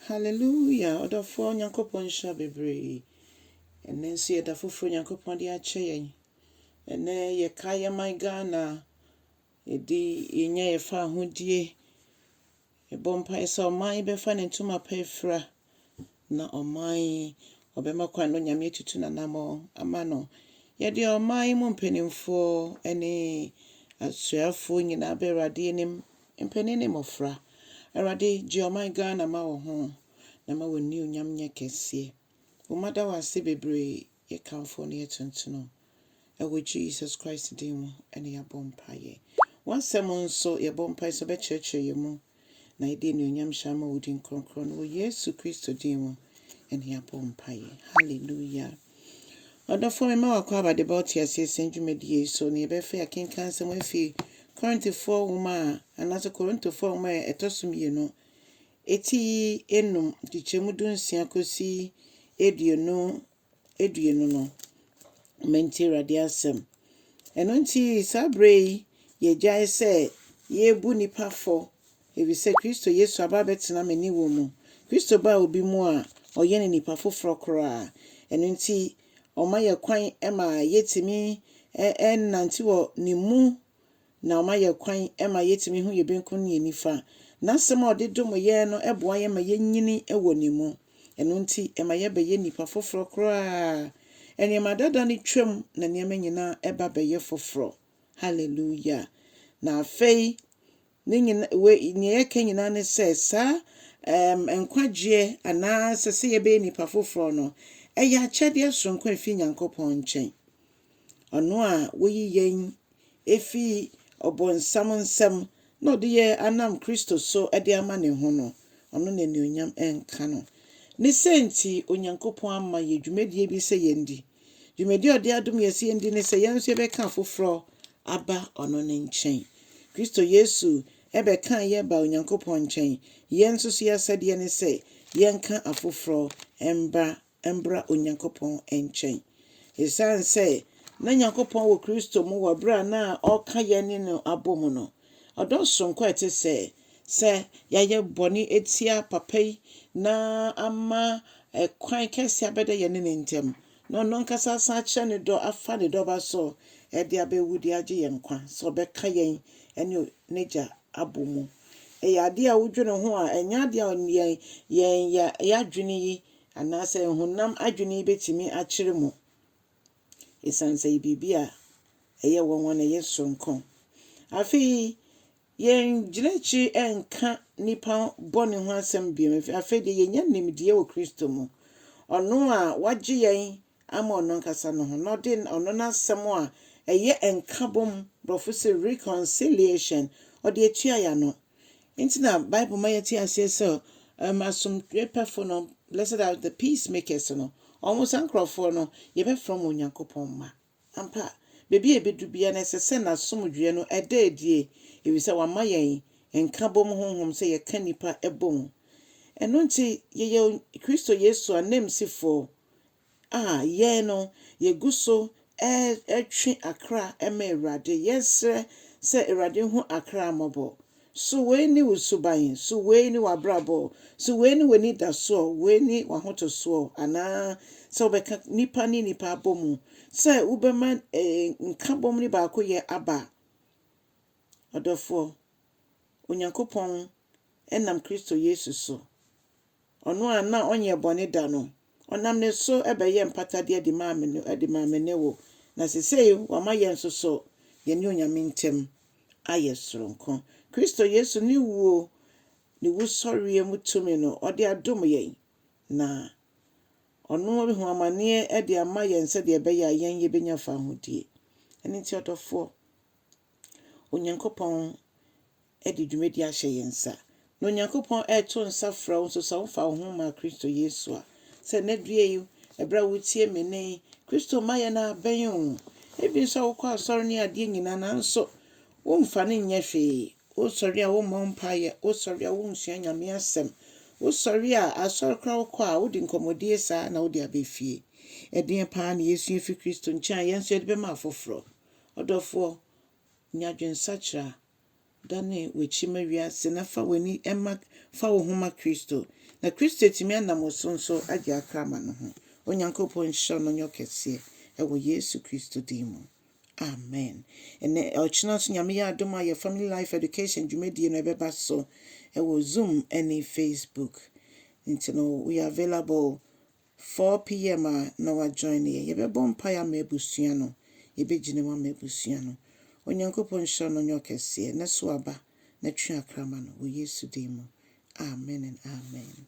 Hallelujah ɔdɔfoɔ Nyankopɔn nhyira wo bebree ɛnɛ nso yɛ da foforɔ Nyankopɔn de akyɛ yɛn ɛnɛ yɛka yɛ man Ghana yɛdi yɛnya yɛfa ahodie yɛbɔ mpaeɛ sɛ ɔman yi bɛfa ne ntoma pa afira na ɔman yi ɔbɛma kwan no Nyame atutu n'anamɔ ama no yɛde ɔman yi mu mpanimfoɔ ne asuafoɔ nyinaa bɛ Awurade anim Mpanin ne mmɔfra, Awurade gye ɔman Ghana ma wo ho na ma w'anuonyam nyɛ kɛseɛ. Wo mma da wo ase bebree, yɛkamfo wo na yɛtontono wo. Ɛwɔ Jesus Christ din mu na yɛabɔ mpaeɛ. W'asɛm nso, yɛbɔ mpaeɛ sɛ wobɛkyerɛkyerɛ yɛn mu na yɛde anuonyam hyɛ ama wo din kronkron no. Wɔ Yesu Kristo din mu na yɛabɔ mpaeɛ. Hallelujah. Ɔdɔfoɔ, mema w'akwaaba de ba ɔteaseɛ sɛn dwumadie yi so, na yɛbɛfɛ akenkan nsɛm afi Korintifoɔ nwoma a, anaasɛ Korintofoɔ nwoma a ɛtɔ so mmienu, eti yi enum, nkyekyɛmu du nsia kɔsi aduonu aduonu no. Ma nti Awurade asɛm. Ɛno nti saa berɛ yi yɛgyae sɛ yɛbu nnipa fɔ Efisɛ Kristo Yesu aba abɛtena me ne wo mu. Kristo baa obi mu a, ɔyɛ no nipa foforɔ koraa. Ɛno nti, ɔma yɛn kwan ma yɛtumi nante wɔ ne mu, na ɔma yɛn kwan ma yɛtumi hu yɛn benkum ne yɛn nifa. N'asɛm a ɔde dom yɛn no boa yɛn ma yɛnyini wɔ ne mu. Ɛno nti, ɛma yɛbɛyɛ nnipa foforɔ koraa. Nneɛma dada no twam na nneɛma nyinaa ba bɛyɛ foforɔ. Haleluia! Na afei, Ne nyina, wei, nea yɛka nyinaa ne sɛ, saa, ɛɛm, nkwagyeɛ anaa sɛ sɛ yɛbɛyɛ nnipa foforɔ no, ɛyɛ akyɛdeɛ soronko a ɛfiri Nyankopɔn nkyɛn. Ɔno a Ɔyi yɛn ɛfiri ɔbonsam nsam na Ɔde yɛn anam Kristo so de ama Ne ho no, Ɔno na anuonyam nka no. Ne sɛ nti Onyankopɔn ama yɛn dwumadie bi sɛ yɛndi. Dwumadi a ɔde adom yɛ sɛ yɛndi ne sɛ yɛn nso yɛbɛka afoforɔ aba ɔno ne nkyɛn. Kristo Yesu bɛkaa yɛn baa Onyankopɔn nkyɛn. Yɛn nso so yɛn asɛdeɛ ne sɛ yɛnka afoforɔ mma mbra Onyankopɔn nkyɛn. Esiane sɛ na Nyankopɔn wɔ Kristo mu wɔ berɛ a na ɔreka yɛne no abɔ mu no, Ɔdɔ soronko a ɛte sɛɛ, sɛ yɛayɛ bɔne atia Papa yi na ama kwan kɛse abɛda yɛne ne ntam, na ɔno ankasa asan akyerɛ ne dɔ afa ne Dɔba so de abewu de agye yɛn nkwa, sɛ ɔbɛka yɛn ne N'agya abɔ mu. Ɛyɛ adeɛ a wodwene ho a, ɛnyɛ adeɛ a yɛn, yɛn, yɛn adwene yi, anaasɛ honam adwene yi bɛtumi akyerɛ mu. esiane sɛ ɛyɛ biribi a ɛyɛ nwanwa na ɛyɛ soronko. Afei, yɛn nkyerɛkyerɛ nka nnipa bɔne ho asɛm bio. Afei deɛ yɛnya nimdeɛ wɔ Kristo mu, ɔno a wagye yɛn ama ɔno ankasa no ho, na ɔde ɔno n'asɛm a ɛyɛ nkabom, borɔfo se reconciliation, ɔde atua yɛn ano. Enti na Bible ma yɛte aseɛ sɛ um, asomdwepɛfo no, blessed are the peacemakers no, wɔn saa nkurɔfoɔ no, yɛbɛfrɛ wɔn Onyankopɔn mma. Ampa, baabi a ɛbɛdu biara no, ɛsɛ sɛ n'asomdwoeɛ no ɛda adie, ɛfiri sɛ wama yɛn nkabom honhom sɛ yɛka nnipa bom. Ɛno nti, yɛyɛ Kristo Yesu ananmusifoɔ A Yɛn no, yegu so retwe akra ma Awurade. Yɛsrɛ sɛ Awurade hu akra mmɔbɔ. So wei ne wo suban? So wei ne w'abrabɔ? So wei ne w'anidasoɔ? Wei ne w'ahotosoɔ? Anaa sɛ wobɛka nnipa ne nnipa abɔ mu sɛ wobɛma nkabom ne baakoyɛ aba? Ɔdɔfoɔ, Onyankopɔn nam Kristo Yesu so Ɔno a na ɔnnyɛ bɔne da no, ɔnam ne so bɛyɛɛ mpatadeɛ de maa me no de maa me ne wo, na sesei wama yɛn nso so yɛn ne Onyame ntam ayɛ soronko. Kristo Yesu ne wuo ne wusɔreɛ mu tumi no ɔde adom yɛn, na Ɔno ahu amaneɛ de ama yɛn sɛdeɛ ɛbɛyɛ a yɛn yɛbɛnya fahodie. Ɛno nti ɔdɔfoɔ, Onyankopɔn de dwumadi ahyɛ yɛn nsa, na Onyankopɔn reto nsa frɛ wo nso sɛ womfa wo ho mma Kristo Yesu a. Sɛ nnɛ due yi, bere a wuretie me nnɛ yi, Kristo mmaeɛ no abɛn o. Ebia nso wokɔ asɔre ne adeɛ nyinaa nanso womfa no nyɛ hwee. Wosɔre a wommɔ mpaeɛ, wosɔre a wonsua Nyame asɛm, wosɔre a asɔre koraa wokɔ a wode nkɔmmɔdie saa ara na wode aba fie. Ɛdeɛn paa na yɛsua afiri Kristo nkyɛn a yɛn nso yɛde bɛma afoforɔ? Ɔdɔfoɔ, nya adwensakyera. Dane w'akyi ma wiase na fa w'ani ma fa wo ho ma Kristo, na Kristo atumi anam wo so nso agye akra ama ne ho. Onyankopɔn nhyira no nyɛ ɔkɛseɛ ɛwɔ Yesu Kristo din mu. Amen. Ɛnɛ ɔkyena nso Nyame yɛ adom a yɛ Family Life Education dwumadie no ɛbɛba so ɛwɔ Zoom ɛne Facebook. Nti no we are available four PM a na wa join yɛn. Yɛbɛbɔ mpaeɛ ama abusua no. Yɛbɛgyina mu ama abusua no. Onyankopɔn nhyira no nyɛ ɔkɛseɛ. Nɛ so aba na twe akra ma no wɔ Yesu din mu. Amen and amen.